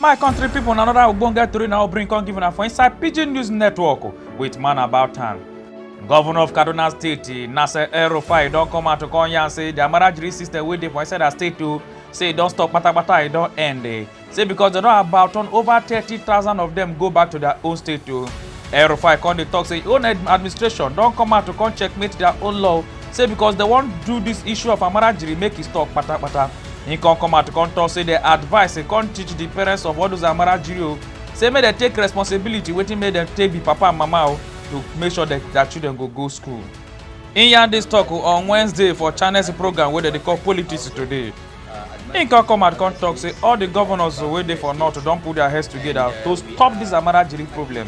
my country people, na another ogbonge tori na bring come give una for inside pidgin news network with man about town governor of kaduna state nasser el-rufai don come out to come yarn say their marriage rate system wey dey for inside her state o say e don stop patapata e don end eh. say because dem don about turn over thirty thousand of dem go back to their own state o el-rufai come dey talk say im own administration don come out to come checkmate their own law say because dem wan do this issue of amara jiri make e stop patapata He come come out come talk say the advice he come teach the parents of all those Amara Jiri o say make dem take responsibility wetin make dem take be papa and mama o to make sure that their children go go school. He yarn this talk o on Wednesday for Channels program wey dem dey call Politics Today. He come come out come talk say all the governors wey dey for north don put their heads together to stop this Amara Jiri problem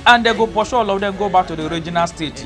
and dem go pursue all of them go back to the original state.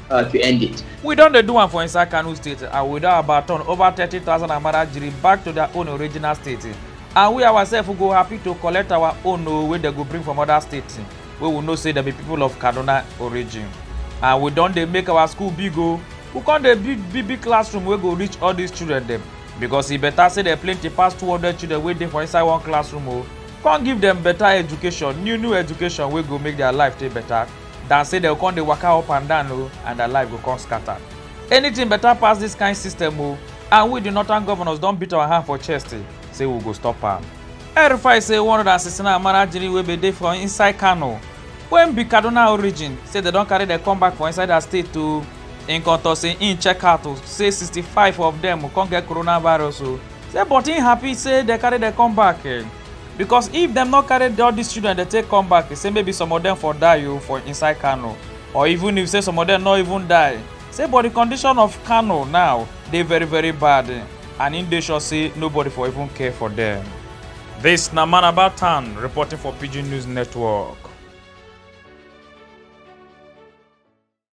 uh, to end it. We don't do one for inside Kanu State and we don about turn over 30,000 Amara Jiri back to their own original state. And we ourselves go happy to collect our own oh, wey they go bring from other states We will know say dem be people of Kaduna origin. And we don't they make our school big o. Oh. We come dey big big big classroom We go reach all these children them because e better say dem plenty pass two hundred children wey dey for inside one classroom o oh. come give dem better education new new education wey go make their life dey better than say dem go come dey waka up and down o and their life go come scatter. Anything better pass this kind system o and we the northern governors don beat our hand for chest eh, say we go stop am. El-Rufai say one hundred and sixty nine Amarajiri wey bin dey for inside Kano wey be Kaduna origin say dem don carry dem come back for inside their state o. Im come talk say im check out o say sixty five of dem come get coronavirus o say but im happy say dem carry dem come back. because if dem no carry all these children dey take come back say maybe some of them for die o oh, for inside kano or even if say some of them no even die say but the condition of kano now dey very very bad and im dey sure say nobody for even care for them. This na man about town reporting for pidgin news network.